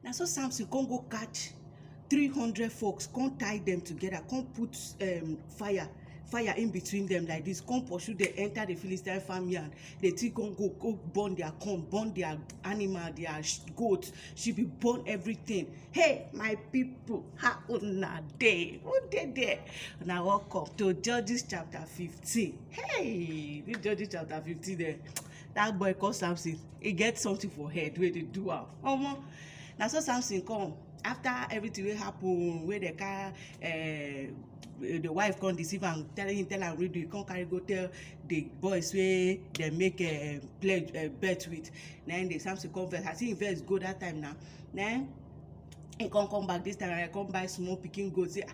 Na so Samson come go catch three hundred folks, come tie them together, come put um, fire fire in between them like this, come pursue them, enter the Philistine farmyard. They take come go, go burn their corn, burn their animal, their sh- goat, she be burn everything. Hey, my people, how una dey? Who dey there? Now welcome to Judges chapter 15. Hey, this Judges chapter 15 there. that boy call samson he get something for head wey dey do am omo na so samson come after everything wey happen wey dey carry eh, the wife come deceive am tell him tell am redo he come carry go tell the boys wey dey make eh, pledge eh, bet with na him the samson come vex as him vex go that time na na him he come come back this time around he come buy small pikin goat say ah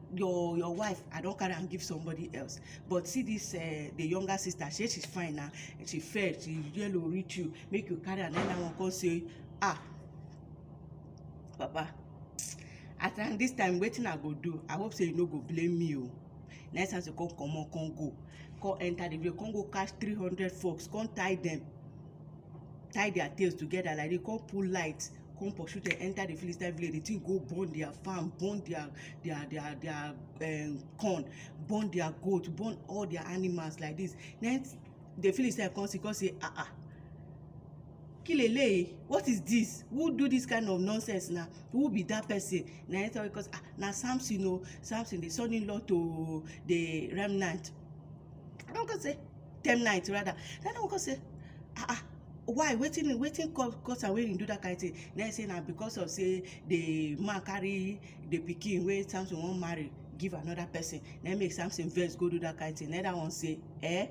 your your wife i don carry am give somebody else but see this uh, the younger sister she she's fine na she fair she yellow reach you make you carry am another one come say ah papa i thank this time wetin i go do i hope say you no go blame me o next time you come comot come go come enter the village come go catch three hundred fox come tie them tie their tails together like they come pull light come pursue dem enter the Philistine village. The thing go burn their farm, burn their their their their um, corn, burn their goat, burn all their animals like this. Then the Philistine come see, come say, ah ah. Kilele, what is this? Who do this kind of nonsense now? Who be that person? Na him tell because ah, na Samson o, oh, Samson the son-in-law to the remnant. I don come say, Temnite rather. Then I don come say, ah ah. why wetin wetin cause am wey he do that kind thing na him say na because of say the man carry the pikin wey Samson wan marry give another person na him make Samson vex go do that kind thing na him that one say eh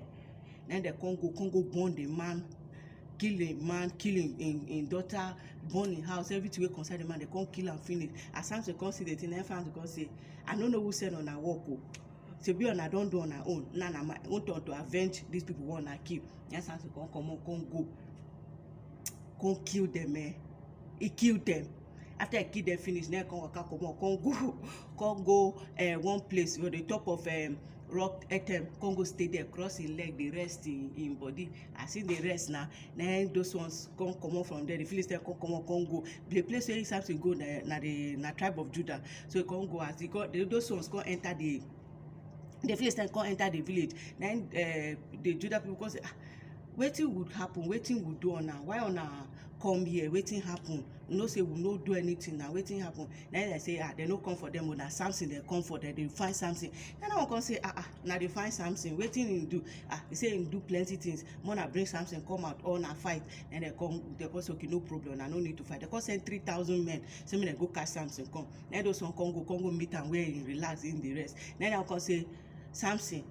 na him dem come go come go burn the man kill the man kill him him him daughter burn him house everything wey concern the man dem come kill am finish as Samson come see the thing na him Samson come say I no know who send una work o Shebi una don do una own, now na my own turn to avenge dis pipu wey una kill. Na im Samson come comot come go come kill dem um. E kill dem. After e kill dem finish, na im e come waka comot come go come go um one place for the top of um rock um come go stay dere, cross hin leg dey rest hin hin body. As e dey rest na, na im those ones come comot from dere. The Philistines come comot come go. The place wey Samson go na na the na tribe of Judah. so e come go as e come those ones come enter the the philistines come enter the village na im uh, the judah people come say ah wetin would happen wetin we do una why una come here wetin happen you know say we no do anything na wetin happen na him dem say ah dem no come for them o na samson dem come for dem dey find samson na that one come say ah ah na dey find samson wetin him do ah he say him do plenty things more na bring samson come out or na fight na dem come dem come say okay no problem na no need to fight dem come send three thousand men sey make dem go carry Samson come. Na im those one come go, come go meet am where im relax, im dey rest. Na im dat one come say, Samson,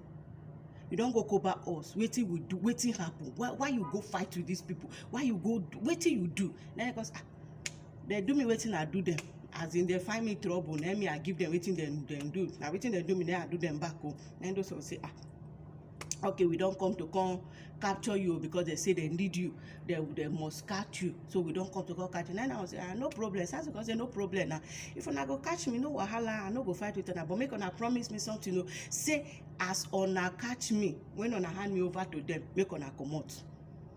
you don go cover us, wetin we do? Wetin happen? Why why you go fight with dis pipu? Why you go do? Wetin you do? Na im e come say, um Dem do me wetin I do dem. As in dem find me trouble, na im me I give dem wetin dem dem do. Na wetin dem do me, na im I do dem back o. Na im those one say, um okay we don come to come capture you oh, because they say they need you they they must catch you so we don come to come catch you nine hours ah no problem sars come say no problem na if una go catch me no wahala i no go fight with una but make una promise me something o oh. say as una catch me when una hand me over to them make una comot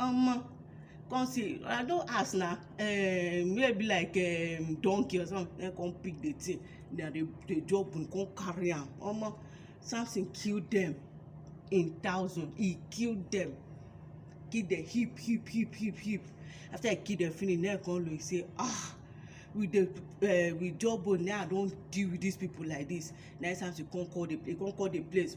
Omo, come see, I don ask na, um where e be like um donkey or something na im come pick the thing, na the the jogbun come carry am. Omo, Samson kill dem in thousand, he kill dem, kill dem heap heap heap heap heap. After he kill dem finish, na im come look say ah, with the um with jawbone na im I don deal with dis pipu like dis. Na im Samson come call the he come call the place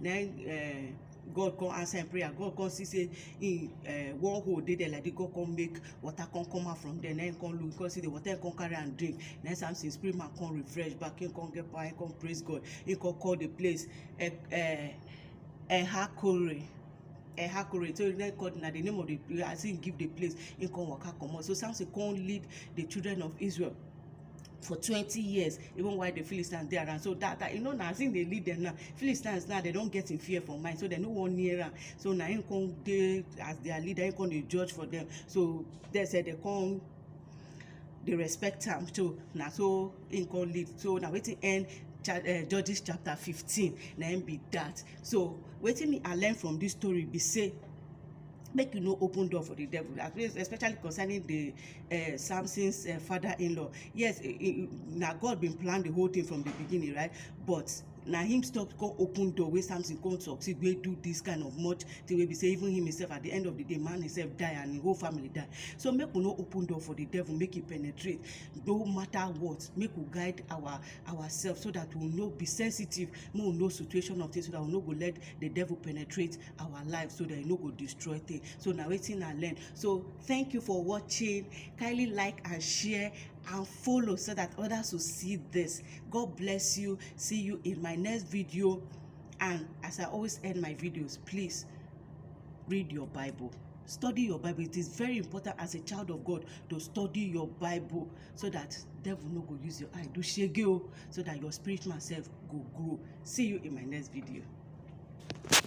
na im um God come answer im prayer. God come see say im um one hole dey there like this. God come make water come come out from there. Na im come look, come see the water, im come carry am drink. Na im Samson spirit man come refresh back. Im come get power, im come praise God. Im come call the place um Enhakore. Enhakore. So na im call na the name of the as im give the place, im come waka comot. So Samson come lead the children of Israel for twenty years even while the Philistines dey around. So that, that you know now as him dey lead them now, Philistines now they don get him fear for mind, so they no wan near am. So na him come dey as their leader, him come dey judge for them. So they say they come dey respect am. So na so him come lead. So na wetin end cha uh, Judges chapter fifteen na him be that. So wetin me I learn from this story be say make you no open door for the devil especially concerning the uh, samson's uh, father-in-law yes eh, eh, now god been planned the whole thing from the beginning right but na him stop come open door wey samson come succeed wey do this kind of much thing wey be say even him himself at the end of the day man himself die and him whole family die so make we no open door for the devil make he penetrate no matter what make we guide our ourselves so that we no be sensitive make we know situation of things so that we no go let the devil penetrate our life so that e no go destroy thing so na wetin i learn so thank you for watching kindly like and share and follow so that others will see this god bless you see you in my next video and as i always end my videos please read your bible study your bible it is very important as a child of god to study your bible so that devil no go use your eye do shege o so that your spiritual self go grow see you in my next video